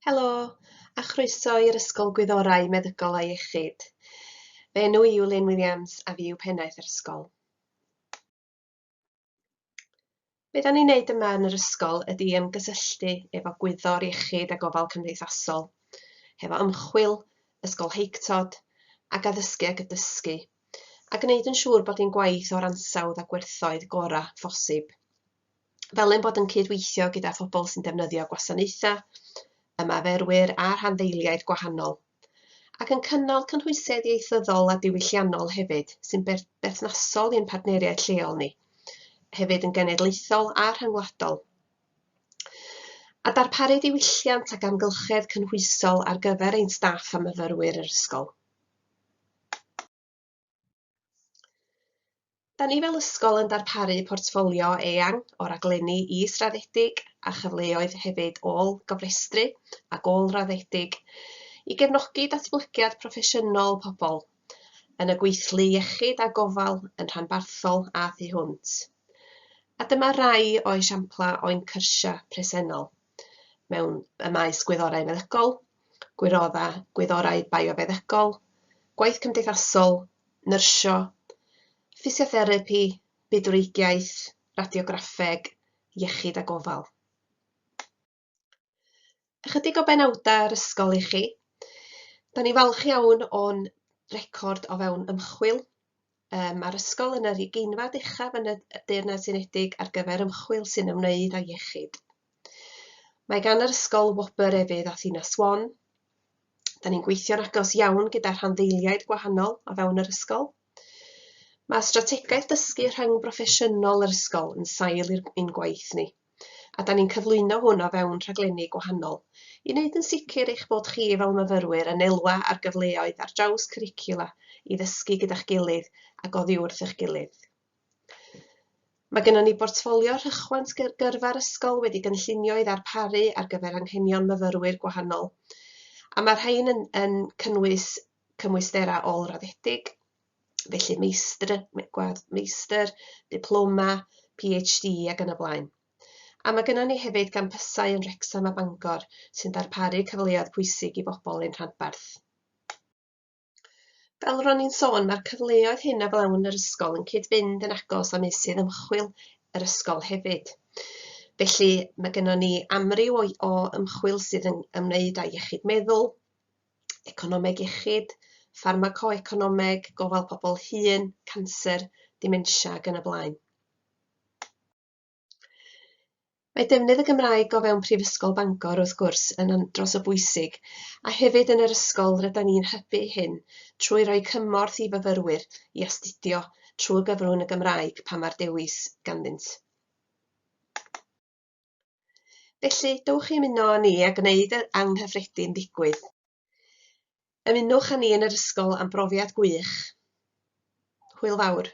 Helo, a chroeso i'r Ysgol Gwyddorau Meddygol a Iechyd. Fy enw i yw Lynn Williams a fi yw pennaeth yr ysgol. Be da ni'n neud yma yn yr ysgol ydy ymgysylltu efo gwyddor iechyd a gofal cymdeithasol, hefo ymchwil, ysgol heictod, ac addysgu ag y dysgu, a gwneud yn siŵr bod ein gwaith o'r ansawdd a gwerthoedd gorau phosib. fel ein bod yn cydweithio gyda phobl sy'n defnyddio gwasanaethau, ymarferwyr a rhanddeiliaid gwahanol, ac yn cynnal cynhwysedd ieithyddol a diwylliannol hefyd sy'n berthnasol i'n partneriaid lleol ni, hefyd yn genedlaethol a rhyngwladol. A darparu diwylliant ac amgylchedd cynhwysol ar gyfer ein staff a myfyrwyr yr ysgol. Da ni fel ysgol yn darparu portffolio eang o raglenni israddedig a chyfleoedd hefyd ôl gofrestru ac ôl raddedig i gefnogi datblygiad proffesiynol pobl yn y gweithlu iechyd a gofal yn rhanbarthol a thu hwnt. A dyma rai o esiamplau o'n cyrsiau presennol. mewn y maes gwyddorau meddygol, gwirodda gwyddorau biofeddygol, gwaith cymdeithasol, nyrsio, ffisiotherapi, bydwreigiaeth, radiograffeg, iechyd a gofal. Ychydig o benawdau yr ysgol i chi. Da ni falch iawn o'n record o fewn ymchwil Yy ma'r ysgol yn yr ugeinfad uchaf yn y y Deyrnas Unedig ar gyfer ymchwil sy'n ymwneud â iechyd. Mae gan yr ysgol wobr efydd a thina swan. Da ni'n gweithio'n agos iawn gyda rhanddeiliaid gwahanol o fewn yr ysgol. Mae strategaeth dysgu rhyng broffesiynol yr ysgol yn sail i'r i'n gwaith ni. a 'dan ni'n cyflwyno hwn o fewn rhaglenni gwahanol i wneud yn sicr eich bod chi fel myfyrwyr yn elwa ar gyfleoedd ar draws cwricwla i ddysgu gyda'ch gilydd ac oddi wrth eich gilydd. Mae gennym ni bortffolio rhychwant gyrfa'r ysgol wedi gynllunio i ddarparu ar gyfer anghenion myfyrwyr gwahanol, a mae'r rhain yn, yn cynnwys cymwysterau ôl-raddedig, felly meistr, gwadd meistr, diploma, PhD ac yn y blaen. A mae gennym ni hefyd gampysau yn Wrecsam a Bangor sy'n darparu cyfleoedd pwysig i bobl ein rhanbarth. Fel ro'n i'n sôn, mae'r cyfleoedd hyn a flawn yr ysgol yn cyd-fynd yn agos â meysydd ymchwil yr ysgol hefyd. Felly mae gennym ni amryw o, o ymchwil sydd yn ymwneud â iechyd meddwl, economeg iechyd, ffarmacoeconomeg, gofal pobl hŷn, canser, dementia ac yn y blaen. Mae defnydd y Gymraeg o fewn Prifysgol Bangor, wrth gwrs, yn andros o bwysig, a hefyd yn yr ysgol rydyn ni'n hybu hyn trwy roi cymorth i fyfyrwyr i astudio trwy gyfrwng y Gymraeg pan mae'r dewis ganddynt. Felly, dowch i ymuno â ni a gwneud yr anghyffredin ddigwydd. Ymunwch â ni yn yr ysgol am brofiad gwych. Hwyl fawr.